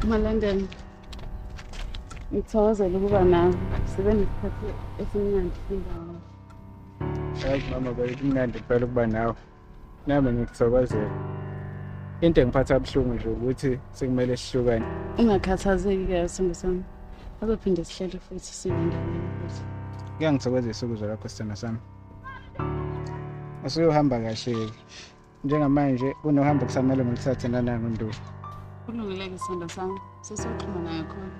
Malandela, ngithokozela ukuba nawe. Sibe nesikhathi esimnandi sindawo. Hayi mama, kumnandi phela ukuba nawe. Nami ngikuthokozela. Into engiphatha buhlungu nje ukuthi sekumele sihlukane. Ungakhathazeki ke sithando sami. Azophinde sihlele futhi sibe ndawonye futhi. Kuyangithokozisa ukuzwa lokho sithando sami. usuyohamba kahle-ke njengamanje kunohambo kusamele ngilithathe nanango nduku kulungile-ke sithando sami sesoxhuma nayo khona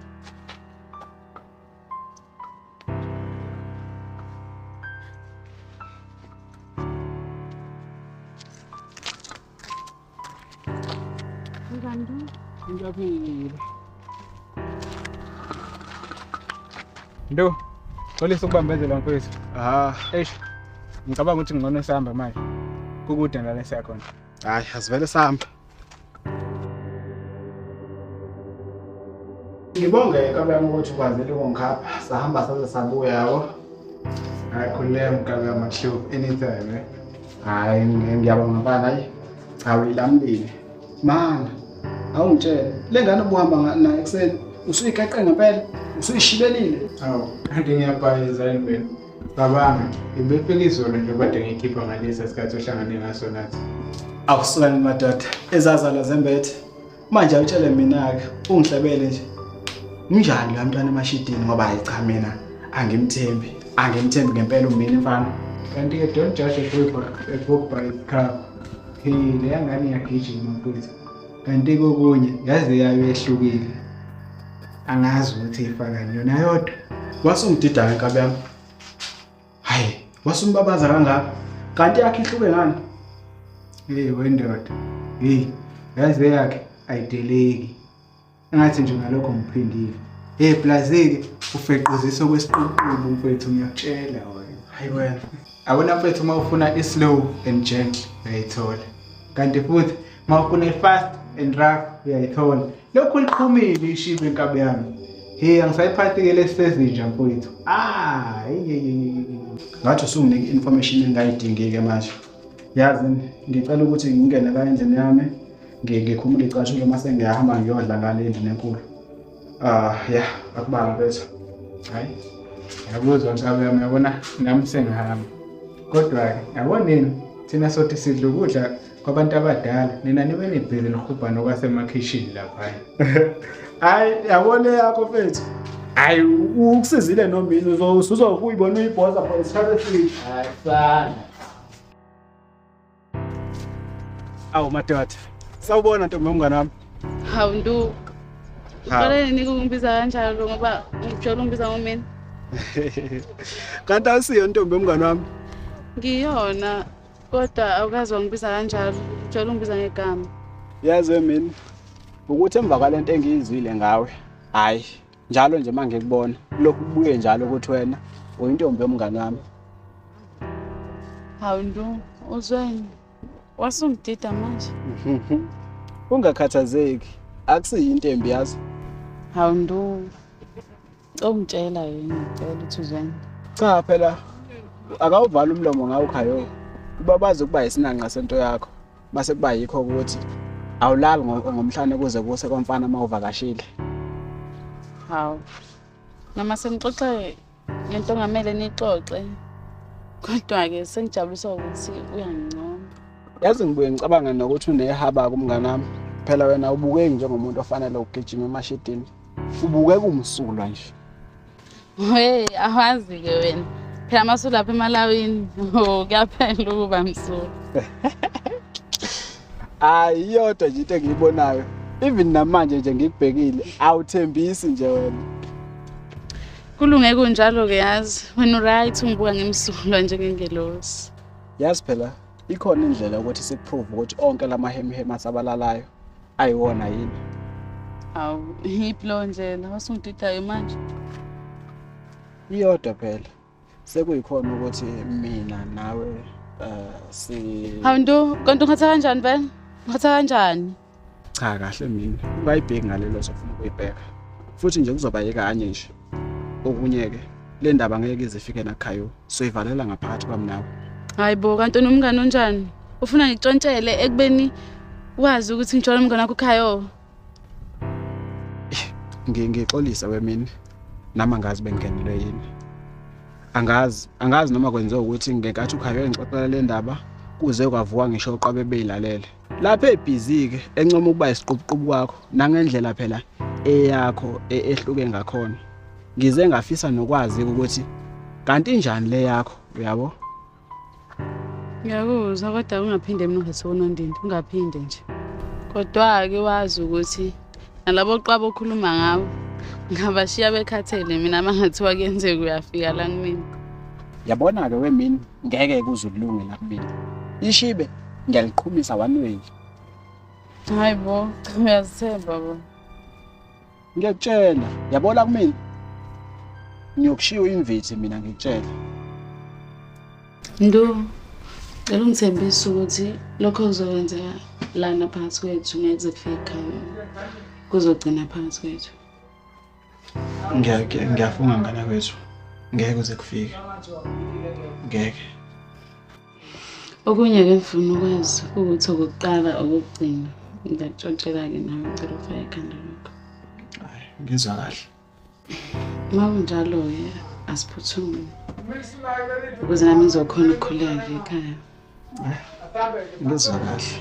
Ndo, xolisa ukubambezela mfethu. Ah, eish. Ngicabanga ukuthi ngcono sihamba manje. Kukude ngale siya khona. Hayi, asivele sihamba. Ngibonge kabuyami ukuthi ukwazile ukungikhapha sahamba saze sabuya yabo. Hayi khululeka mgabuyami akushiwo anytime eh. hayi ngiyabonga bana hayi cha uyilamlile mana awungitshele le ngane obuhamba nayo ekuseni usuyiqeqe ngempela usuyishibelile awu kanti ngiyabhayiza yini mina cabanga ngibefika izolo nje kade ngiyikhipha ngalesi sikhathi ohlangane ngaso nathi awusulani madoda ezazala zembethe manje awutshele mina-ke ungihlebele nje unjani la mntwana emashidini ngoba hayi cha mina angimthembi angimthembi ngempela umina mfana kanti-ke don't judge a book by, a book by its cover he leya ngane iyagijima mfowethu kanti kokunye yaze yayo ehlukile angazi ukuthi ifakani yona yodwa wasungidida ngenkabi yami hayi wasumbabaza kangaka kanti yakhe ihluke ngani hey wendoda hey yazi beyakhe ayideleki engathi nje ngalokho ngiphindile hey blazeke ufequzisa okwesiququbu mfethu ngiyakutshela wena hayi wena abona mfethu uma ufuna islow and gentle uyayithola kanti futhi mawufuna i-fast and rough uyayithola lokhu liqhumile ishibe inkabi yami he angisayiphathi-ke lesisezinja mfowethu ah ngathi usunginike i-information engingayidingi-ke manje yazi ngicela ukuthi ngingene la endlini yami ngikhumule icashulo uma sengiyahamba ngiyodla ngale endlini enkulu Ah ya akubanga bese. Hayi. Yabuzwa nkabe yami yabona nami sengihamba. Kodwa ke yabona nini thina sothi sidla ukudla kwabantu abadala nina nibe nibhizi nihubhana okwasemakhishini lapha. Hayi yabona yakho mfethu. Hayi ukusizile nomini uzokuyibona uyibhoza for isikhathi eside. Hayi sana. Awu madoda. Sawubona ntombi yomngane wami. Hawu nduku. Uqale nini ukungibiza kanjalo ngoba ngijwayele ungibiza ngomina. Kanti awusiyo ntombi yomngane wami. Ngiyona kodwa awukazi wangibiza kanjalo. Ngijwayele ungibiza ngegama. Yazi mina ukuthi emva kwalento engiyizwile ngawe. Hayi. njalo nje uma ngikubona lokhu kubuye njalo ukuthi wena uyintombi yomngane wami hawu nto uzweni wasungidida manje ungakhathazeki akusiyinto embi yazo hawu nto ongitshela yini ngicela ukuthi uzweni cha phela akawuvala umlomo ngawo khayo uba bazi ukuba yisinanqa sento yakho base kuba yikho ukuthi awulali ngomhlane kuze kuse komfana uma uvakashile hawu noma senixoxe ngento ongamele nixoxe kodwa-ke sengijabuliswa ukuthi uyangincoma yazi ngibuye ngicabanga nokuthi unehaba kumngane wami phela wena ubukeki njengomuntu ofanele ugijima emashidini ubukeka umsulwa nje Hey, awazi-ke wena. Phela masulapha emalawini. Oh, kuyaphela ukuba msulu. Hayi iyodwa nje into engiyibonayo. Even namanje nje ngikubhekile, awuthembisi nje wena. Kulunge kunjalo ke yazi. Wena uright ungibuka ngemsulwa njengengelosi. Yazi phela ikhona indlela ukuthi sikuprove ukuthi onke lamahemhema asabalalayo ayiwona yini awu yiphi leyo ndlela wasungididayo manje iyodwa phela sekuyikhona ukuthi mina nawe um si hawu nto kanti ungithatha kanjani vele ungithatha kanjani cha kahle mina ungayibheki ngalelo zofuna ukuyibheka futhi nje kuzoba yekanye nje okunye-ke le ndaba ngeke izifike nakhayo soyivalela ngaphakathi kwami nawe hayi bo kanti unomngane onjani ufuna ngitshontshele ekubeni wazi ukuthi ngitshona umngane wakho ukhayo ngixolise wemini nami angazi bengenelwe yini angazi angazi noma kwenziwa ukuthi ngenkathi ukhayo engixoxela le ndaba kuze kwavuka ngisho uqwabe beyilalele lapha ebhizi-ke encoma ukuba isiqubuqubu kwakho nangendlela phela eyakho e, ehluke ngakhona ngize ngafisa nokwazi ukuthi kanti njani le yakho uyabo ngiyakuzwa kodwa ungaphinde mnungathi unondindi ungaphinde nje kodwa-ke wazi ukuthi nalabo qaba okhuluma ngabo ngabashiya bekhathele mina mangathiwa kuyenzeka uyafika la kumina yabona-ke wemini ngeke kuze ulunge la kumina ishibe ngiyaliqhumisa one way hayi bo cha uyazithemba bo ngiyakutshela yabona kumina ngiyokushiya uyimvithi mina ngikutshela Ndu, cela ungithembisa ukuthi lokho kuzokwenzeka lana phakathi kwethu ngeke kuze kufike ekhaya. Kuzogcina phakathi kwethu. Ngiyake ngiyafunga ngana kwethu. Ngeke kuze kufike. Ngeke. Okunye ke ngifuna ukwazi ukuthi okuqala okugcina ngiyakutshotshela ke nawe ngicela ufake ekhanda lakho. Hayi, ngizwa kahle. Uma kunjalo-ke asiphuthume ukuze nami ngizokhona ukukhuleka ekhaya. Ngizwa kahle.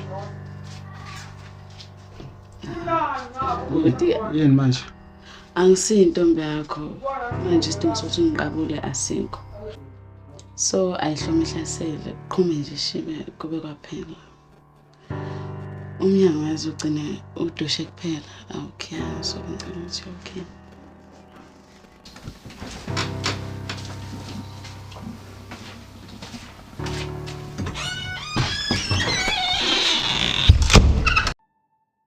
Kodwa yini manje? Angisiyi intombi yakho. Manje isidingo sokuthi ungiqabule asikho. So ayihlomi ihlasele, qhume nje shibe kube kwaphela. umnyango yazi ugcine udushe kuphela awukhe so ngicela ukuthi okay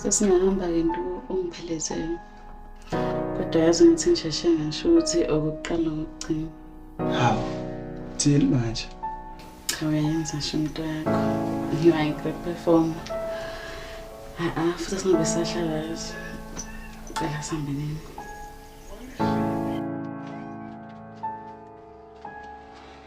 sesingahamba ke nto ongiphelezele kodwa yazi ngithi ngisheshe ngasho ukuthi okokuqala okugcina hawu thini manje cha uyayenza sho into yakho you are a great performer ha-a futhi singabe sahlala yazi cela sihambe nini